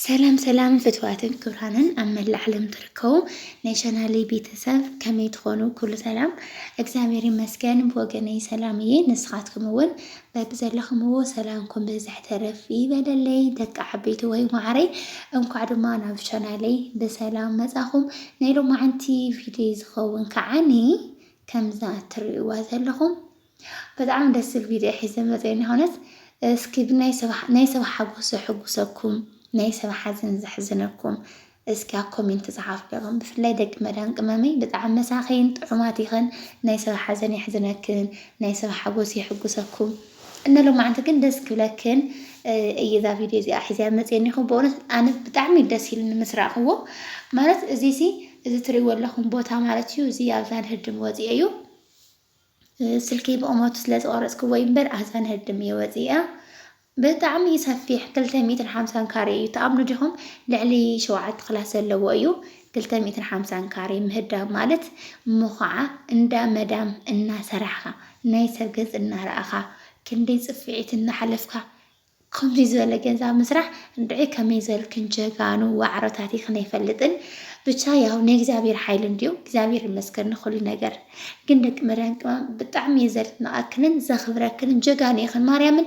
ሰላም ሰላም ፍትዋትን ክብራንን ኣብ መላእ ዓለም ትርከቡ ናይ ቻናለይ ቤተሰብ ከመይ ትኾኑ? ኩሉ ሰላም እግዚኣብሔር ይመስገን ብወገነይ ሰላም እየ። ንስኻትኩም እውን በብዘለኹምዎ ሰላምኩም ብዝሕ ተረፍ ይበለለይ ደቂ ዓበይቲ ወይ ማዕረይ። እንኳዕ ድማ ናብ ቻናለይ ብሰላም መጻኹም። ናይ ሎማዓንቲ ቪድዮ ዝኸውን ከዓኒ ከምዛ እትርእይዋ ዘለኹም ብጣዕሚ ደስ ዝብል ቪድዮ ሒዘ መፅየ ንክነት እስኪ ናይ ሰብ ሓጎስ ዘሕጉሰኩም ናይ ሰብ ሓዘን ዘሕዝነኩም እስኪ ኣብ ኮሜንት ፀሓፉ ደቅም ብፍላይ ደቂ መዳን ቅመመይ ብጣዕሚ መሳኺን ጥዑማት ይኸን ናይ ሰብ ሓዘን የሕዝነክን ናይ ሰብ ሓጎስ የሕጉሰኩም እነ ሎማዕንቲ ግን ደስ ክብለክን እየ እዛ ቪድዮ እዚኣ ሒዘያ መፅየኒ ይኹን ብእውነት ኣነ ብጣዕሚ ደስ ኢሉኒ ምስ ረኣኽዎ ማለት እዚ ሲ እዚ ትሪእዎ ኣለኹም ቦታ ማለት እዩ እዚ ኣብዛ ንህድም ወፂኦ እዩ ስልኪ ብቑመቱ ስለ ዝቐረጽክዎ እዩ እምበር ኣዛን ህድም እየ ወጺኣ። ብጣዕሚ እዩ ሰፊሕ ክልተ ሚእትን ሓምሳን ካሬ እዩ ትኣምኑ ዲኹም? ልዕሊ ሸውዓተ ክላስ ዘለዎ እዩ። ክልተ ሚእትን ሓምሳን ካሬ ምህዳም ማለት እሞ ኸዓ እንዳ መዳም እናሰራሕኻ ናይ ሰብ ገጽ እናረኣኻ ክንደይ ጽፍዒት እናሓለፍካ ኸምዙይ ዝበለ ገንዛ ምስራሕ እንድዒ ከመይ ዘልክን ጀጋኑ ዋዕሮ ታቲክን ኣይፈልጥን ብቻ ያው ናይ እግዚኣብሔር ሓይሊ እንድዩ እግዚኣብሔር ይመስገን ንኹሉ ነገር ግን ደቂ መድያን ቅመም ብጣዕሚ እየ ዘድንቐክንን ዘኽብረክንን ጀጋኑ ኢኽን ማርያምን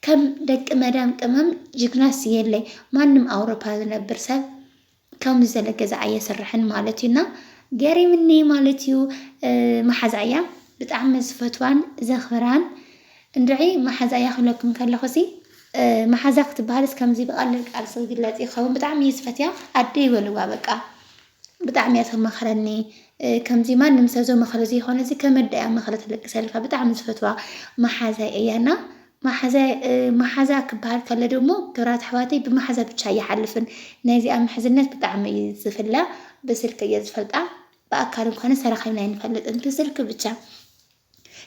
ከም ደቂ መድያን ቅመም ጅግናስ የለይ ማንም ኣውሮፓ ዝነብር ሰብ ከምዚ ዘለ ገዛ ኣየስርሕን ማለት እዩ እና ገሪምኒ ማለት እዩ መሓዛ እያ ብጣዕሚ ዝፈትዋን ዘኽብራን እንድዒ መሓዛ እያ ክብለኩም ከለኹ ሲ መሓዛ ክትበሃልስ ከምዚ ብቐሊል ቃል ዝግለፅ ይኸውን ብጣዕሚ እዩ ዝፈትያ ኣደይ በልዋ በቃ ብጣዕሚ እያ ተማኽረኒ ከምዚ ማንም ሰብ ዘማኽሮ ዘይኮነ እዚ ከመዳ እያ መኽረ ትልግሰልካ ብጣዕሚ ዝፈትዋ መሓዛይ እያና ማሓዛ ማሓዛ ክባሃል ከሎ ደሞ ክብራት ኣሕዋተይ ብማሓዛ ብቻ ኣይሓልፍን ናይ እዚኣ ምሕዝነት ብጣዕሚ እዩ ዝፍላ ብስልኪ እየ ዝፈልጣ ብኣካል እንኳንስ ተራኺብና ኣይንፈልጥን ብስልኪ ብቻ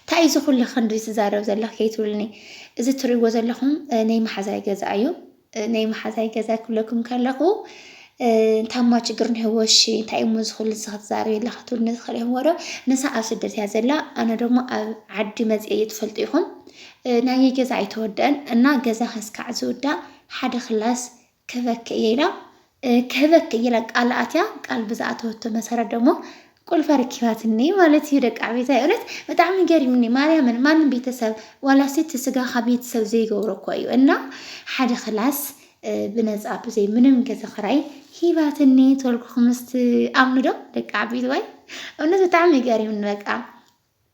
እንታይ እዩ እዚ ኩሉ ክንዲ ዝዛረብ ዘለኽ ከይትብሉኒ እዚ እትሪእዎ ዘለኹም ናይ ማሓዛይ ገዛ እዩ። ናይ መሓዛይ ገዛ ክብለኩም ከለኹ እንታማ ችግር እኒሀዎ እሺ እንታይ እሞ እዚ ኩሉ ንስኻ ትዛረቢ ኣለኻ ትብሉኒ ትኽእል ኢኹም ዶ ንሳ ኣብ ስደት እያ ዘላ ኣነ ደግሞ ኣብ ዓዲ መፅአ እየ ትፈልጡ ኢኹም ናየይ ገዛ ኣይተወደአን እና ገዛ ከስካዕ ዝውዳእ ሓደ ክላስ ክበክ እየ ኢላ ክህበኪ ኢለ ቃል ኣትያ ቃል ብዝኣተወቶ መሰረት ደሞ ቁልፋ ረኪባትኒ ማለት እዩ ደቂ ዓቤታይ እውነት ብጣዕሚ ገሪምኒ ማርያምን ማንም ቤተሰብ ዋላ ስቲ ስጋኻ ቤተሰብ ዘይገብሮ እኮ እዩ እና ሓደ ክላስ ብነፃ ብዘይ ምንም ገዛ ክራይ ሂባትኒ ተወልኩኹም ምስ ኣምኑ ዶ ደቂ ዓቤት ዋይ እውነት ብጣዕሚ ገሪምኒ በቃ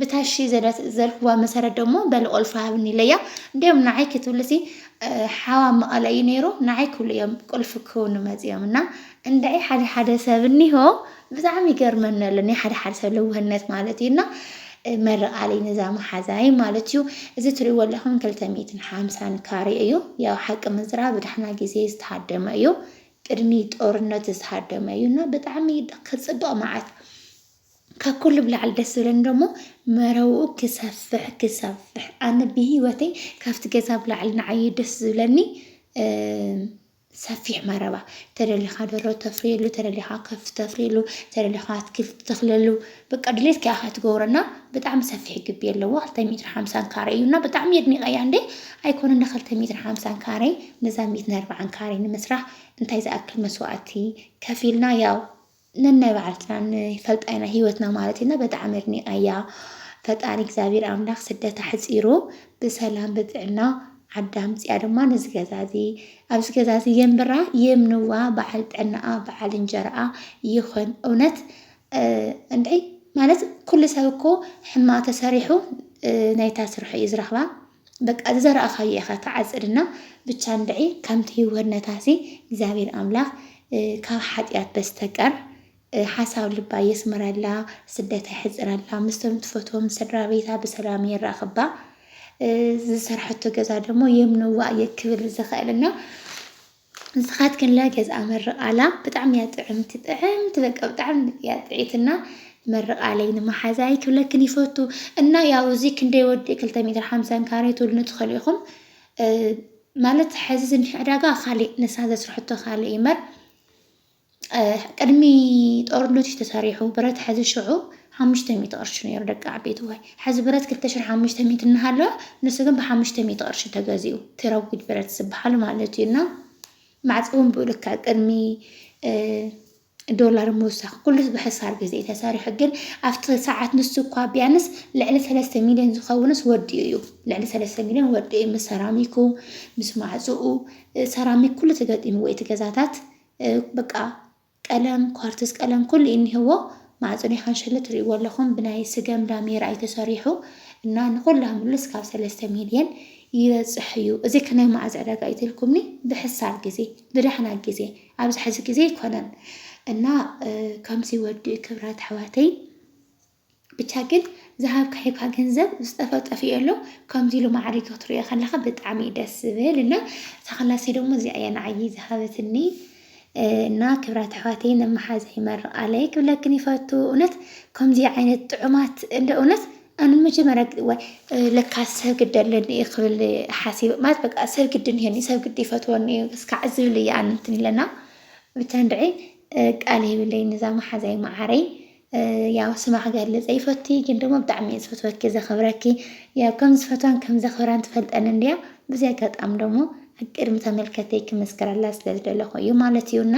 ብታሺ ዘልክዋ መሰረት ደሞ በሊ ቁልፊ ሃብኒ ኢለያ እንዲኦም ንዓይ ክትብልሲ ሓዋ መቐለ እዩ ነይሩ ንዓይ ክብሉ እዮም ቁልፊ ክውኑ መፂኦም እና እንድዒ ሓደ ሓደ ሰብ እኒሆ ብጣዕሚ ይገርመኒ ኣሎ ናይ ሓደ ሓደ ሰብ ልውህነት ማለት እዩ እና መረቃሊ ነዛ መሓዛይ ማለት እዩ እዚ ትሪእዎ ኣለኹም ክልተ ሚእትን ሓምሳን ካሬ እዩ ያው ሓቂ ምዝራ ብዳሕና ግዜ ዝተሃደመ እዩ ቅድሚ ጦርነት ዝተሃደመ እዩ እና ብጣዕሚ ክፅብቕ መዓት ካብ ኩሉ ብላዕሊ ደስ ዝብለኒ ደሞ መረብኡ ክሰፍሕ ክሰፍሕ ኣነ ብሂወተይ ካብቲ ገዛ ብላዕሊ ንዓይ ደስ ዝብለኒ ሰፊሕ መረባ ተደሊኻ ደሮ ተፍርየሉ ተደሊኻ ከፍቲ ተፍርየሉ ተደሊኻ ኣትክልቲ ትተኽለሉ በቃ ድሌትካ ኢኻ ትገብሮ እና ብጣዕሚ ሰፊሕ ግቢ ኣለዎ ክልተ ሜትሮ ሓምሳን ካሬ እዩ እና ብጣዕሚ ኣድኒቐያ እንዴ ኣይኮነን እንዳ ክልተ ሜትሮ ሓምሳን ካሬ ነዛ ሜትሮ ኣርብዓን ካሬ ንምስራሕ እንታይ ዝኣክል መስዋእቲ ከፊልና ያው ነናይ ባዕልትና ንፈልጣ ኢና ሂወትና ማለት ኢና በጣዕሚ ኣድኒቀያ ፈጣሪ እግዚኣብሔር ኣምላክ ስደት ኣሕፂሩ ብሰላም ብጥዕና ዓዳ ኣምፅኣ ድማ ነዚ ገዛ እዚ ኣብዚ ገዛ እዚ የንብራ የምንዋ በዓል ጥዕናኣ በዓል እንጀራኣ ይኹን እውነት እንድዒ ማለት ኩሉ ሰብ እኮ ሕማቅ ተሰሪሑ ናይታ ስርሑ እዩ ዝረኽባ በቃ ዝዘራእኻዮ ኢኻ ትዓጽድ እና ብቻ እንድዒ ከምቲ ህይወነታሲ እግዚኣብሔር ኣምላኽ ካብ ሓጢኣት በስተቀር ሓሳብ ልባ የስምረላ፣ ስደታ የሕጽረላ፣ ምስቶም ትፈትዎም ስድራ ቤታ ብሰላም የራኽባ፣ ዝሰርሐቶ ገዛ ደግሞ የምንዋ እየ ክብል ዝኽእል እና ንስኻትክንለ ገዝኣ መርቓላ ብጣዕሚ እያ ጥዕምቲ ጥዕምቲ በቃ ብጣዕሚ እያ ጥዒትና መርቓለይ ንመሓዛይ ክብለክን ይፈቱ እና ያው እዚ ክንደይ ወዲ ክልተ ሜትር ሓምሳን ካሬ ትብሉኒ ትኽእሉ ኢኹም ማለት ሕዚ ዝኒሀ ዕዳጋ ካሊእ ንሳ ዘስርሐቶ ካሊእ ይመር ቅድሚ ጦርነት እዩ ተሰሪሑ ብረት ሐዚ ሽዑ ሓሙሽተ ሚእቲ ቅርሺ ነይሩ ደቂ ዓበይቲ ዋይ ሐዚ ብረት ክልተ ሽሕ ሓሙሽተ ሚእቲ እናሃለወ ንሱ ግን ብሓሙሽተ ሚእቲ ቅርሺ ተገዚኡ ትረጉድ ብረት ዝበሃል ማለት እዩ እና ማዕፆ እውን ብኡልካ ቅድሚ ዶላር ምውሳኽ ኩሉስ ብሕሳር ግዜ እዩ ተሰሪሑ ግን ኣብቲ ሰዓት ንሱ እኳ ቢያንስ ልዕሊ ሰለስተ ሚልዮን ዝኸውንስ ወዲኡ እዩ ልዕሊ ሰለስተ ሚልዮን ወዲኡ እዩ ምስ ሰራሚኩ ምስ ማዕፅኡ ሰራሚክ ኩሉ ተገጢምዎ እቲ ገዛታት በቃ ቀለም ኳርትዝ ቀለም ኩሉ እዩ እኒሀዎ ማዕፆ ናይ ካንሸሎ ትሪእዎ ኣለኹም ብናይ ስገም ዳሜራ እዩ ተሰሪሑ እና ንኹላ ምሉስ ካብ ሰለስተ ሚልየን ይበፅሕ እዩ እዚ ከናይ መዓዝ ዕዳጋ እዩ ትልኩምኒ ብሕሳር ግዜ ብዳሕና ግዜ ኣብዚ ሕዚ ግዜ ኣይኮነን እና ከምዚ ወዲ ክብራት ኣሕዋተይ ብቻ ግን ዝሃብካ ሂብካ ገንዘብ ዝጠፈእ ጠፊኡ ኣሎ ከምዚ ኢሉ ማዕሪጉ ክትሪኦ ከለካ ብጣዕሚ እዩ ደስ ዝብል እና እታ ክላሰይ ደሞ እዚኣ እያ ንዓይ ዝሃበትኒ እና ክብራት ኣሕዋተይ ነመሓዛ ይመርቃለይ ክብለክን ይፈቱ እውነት ከምዚ ዓይነት ጥዑማት እንደ እውነት ኣነ መጀመርያ ወይ ለካ ሰብ ግዲ ኣለኒ እየ ክብል ሓሲበ ማለት በቃ ሰብ ግዲ እኒሀኒ ሰብ ግዲ ይፈትወኒ እዩ እስካዕ ዝብል እየ ኣነ እንትን ኢለና ብቻ እንድዒ ቃል የብለይ ነዛ መሓዛይ መዓረይ ያው ስማ ክገልጽ ኣይፈቱይ ግን ደሞ ብጣዕሚ እየ ዝፈትወኪ ዘኽብረኪ ያው ከም ዝፈትዋን ከም ዘኽብራን ትፈልጠኒ እንድያ ብዚ ኣጋጣሚ ደሞ ኣብ ቅድሚ ተመልከተይ ክምስክረላ ስለ ዝደለኹ እዩ ማለት እዩ እና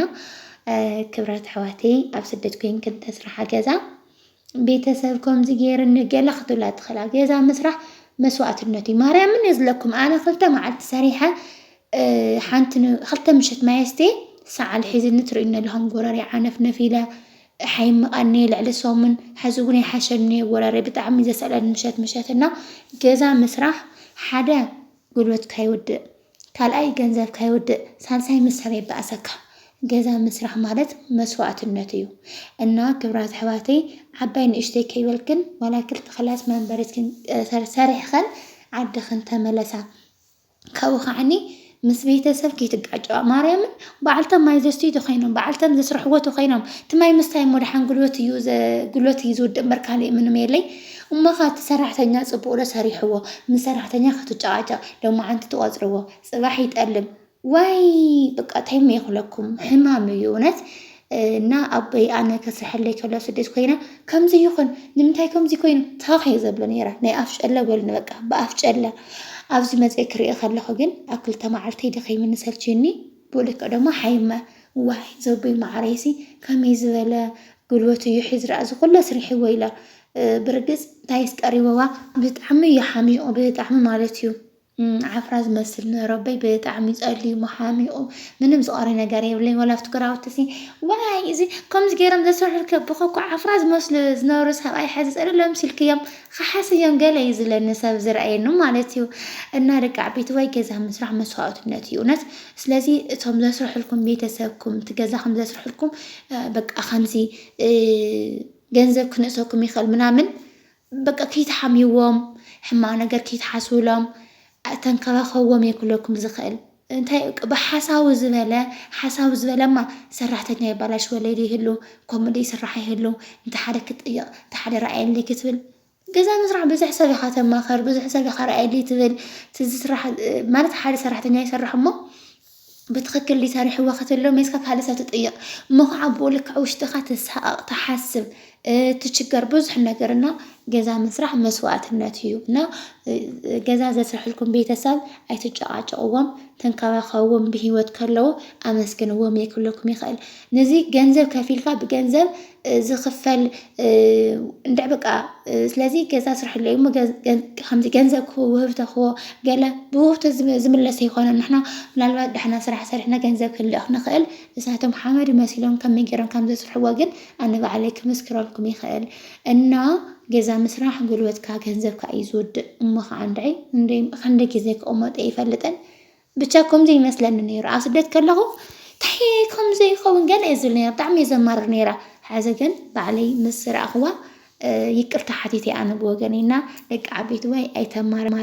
ክብራት ኣሕዋተይ ኣብ ስደት ኮይንክን ተስርሓ ገዛ ቤተሰብ ከምዚ ገይርኒ ገለ ክትብላ ትኽእላ ገዛ ምስራሕ መስዋእትነት እዩ ማርያምን እየ ዝለኩም ኣነ ክልተ መዓልቲ ሰሪሐ ሓንቲ ክልተ ምሸት ማየስቴ ሰዓል ሒዝኒ ትርእዩኒ ኣለኹም ጎረሪ ዓነፍነፍ ኢለ ኣይምቀንየ ልዕሊ ሰሙን ሐዚ እውን ኣይሓሸንየ ወረረይ ብጣዕሚ ዘስዕበኒ ምሸት ምሸት እና ገዛ ምስራሕ ሓደ ጉልበትካ ይውድእ ካልኣይ ገንዘብካ ይውድእ ሳልሳይ ምስ ሰብ የባእሰካ ገዛ ምስራሕ ማለት መስዋእትነት እዩ እና ክብራት ኣሕዋተይ ዓባይ ንእሽተይ ከይበልክን ዋላ ክልተ ክላስ መንበሪትክን ሰሪሕኸን ዓድኽን ተመለሳ ካብኡ ከዓኒ ምስ ቤተሰብ ከይትጋጨዋ ማርያምን በዓልቶም ማይ ዘስትዩ ተኾይኖም በዓልቶም ዘስርሕዎ ተኾይኖም እቲ ማይ ምስታይ እሞ ደሓን ጉልበት እዩ ጉልበት እዩ ዝውድእ እምበር ካልእ ምንም የለይ እሞ ኸ እቲ ሰራሕተኛ ጽቡቕ ዶ ሰሪሕዎ ምስ ሰራሕተኛ ክትጨቓጨቕ ሎማዓንቲ ትቖጽርዎ ጽባሕ ይጠልም ዋይ በቃ ታይ እሞ ይኽለኩም ሕማም እዩ እውነት እና ኣቦይ ኣነ ከስርሐለይ ከሎ ስደት ኮይነ ከምዚ ይኹን ንምንታይ ከምዚ ኮይኑ ታኽ እየ ዘብሎ ነይረ ናይ ኣፍ ጨለ በሉኒ በቃ ብኣፍ ጨለ ኣብዚ መፅኤ ክርኢ ከለኹ ግን ኣብ ክልተ መዓልተይ ደኺምኒ ሰልችዩኒ ብልክዕ ደሞ ሓይመ ዋይ ዘቦይ መዓረይሲ ከመይ ዝበለ ጉልበት እዩ ሒዝ ረኣ ዝኩለ ኣስሪሕዎ ኢለ ብርግፅ እንታይስ ቀሪበዋ ብጣዕሚ እዩ ሓሚቑ ብጣዕሚ ማለት እዩ ዓፍራ ዝመስል ንረበይ ብጣዕሚ ጸልዩ መሓሚቁ ምንም ዝቀሪ ነገር የብለይ ወላ ኣብቲ ግራውቲ ሲ ዋይ እዚ ከምዚ ገይሮም ዘስርሑልከ ብኸኩ ዓፍራ ዝመስሉ ዝነበሩ ሰብኣይ ሕዚ ጸልሎ ኣምሲልክዮም ኸሓስዮም ገለ እዩ ዝለኒ ሰብ ዝርኣየኒ ማለት እዩ እና ደቂ ዓበይቲ ወይ ገዛ ምስራሕ መስዋእትነት እዩ እውነት ስለዚ እቶም ዘስርሑልኩም ቤተሰብኩም እቲ ገዛ ከም ዘስርሑልኩም በቃ ከምዚ ገንዘብ ክንእሰኩም ይኽእል ምናምን በቃ ክይትሓምይዎም ሕማቅ ነገር ክይትሓስብሎም ኣተንከባከብዎም እየ ክብለኩም ዝክእል እንታይ እዩ ብሓሳዊ ዝበለ ሓሳዊ ዝበለማ ሰራሕተኛ የባላሽወለይ ዶ ይህሉ ከምኡ ዶ ይስራሕ ይህሉ እንተ ሓደ ክትጥይቅ እንተ ሓደ ረኣየለይ ክትብል ገዛ ምስራሕ ብዙሕ ሰብ ኢካ ተማክር ብዙሕ ሰብ ኢካ ረኣየለይ ትብል እቲ ዝስራሕ ማለት ሓደ ሰራሕተኛ ይሰርሕ እሞ ብትኽክል ድዩ ሰሪሕዎ ክትብሎ ሜስካ ካልእ ሰብ ትጥይቕ እሞ ከዓ ብኡ ልክዕ ውሽጥኻ ትሳቐቕ ትሓስብ ትችገር ብዙሕ ነገር እና ገዛ ምስራሕ መስዋእትነት እዩ እና ገዛ ዘስርሕልኩም ቤተሰብ ኣይትጨቓጨቕዎም፣ ተንከባኸብዎም ብሂወት ከለዉ ኣመስግንዎም የክለኩም ይኽእል ነዚ ገንዘብ ከፊልካ ብገንዘብ ዝኽፈል እንድዕ በቃ ስለዚ ገዛ ስርሐለይ እሞ ከምዚ ገንዘብ ክህቦ ውህብቶ ክህቦ ገለ ብውህብቶ ዝምለስ ኣይኮነን። ንሕና ምናልባት ደሕና ስራሕ ሰሪሕና ገንዘብ ክንልእኽ ንኽእል ንሳቶም ሓመድ መሲሎም ከመይ ገይሮም ከም ዘስርሕዎ ግን ኣነ ባዕለይ ክምስክረልኩም ይኽእል እና ገዛ ምስራሕ ጉልበትካ ገንዘብካ እዩ ዝውድእ እሞ ከዓ እንድዒ እንድዒ ክንደይ ግዜ ክቕመጦ ኣይፈልጥን ብቻ ከምዚ ይመስለኒ ነይሩ ኣብ ስደት ከለኹ ታይ ከም ዘይኸውን ገለ እየ ዝብል ነይረ ብጣዕሚ እየ ዘማርር ነይረ ሐዚ ግን ባዕለይ ምስ ረኣኽዋ ይቅርታ ሓቲተ ኣነ ብወገነይ እና ደቂ ዓበይቲ ዋይ ኣይተማርማር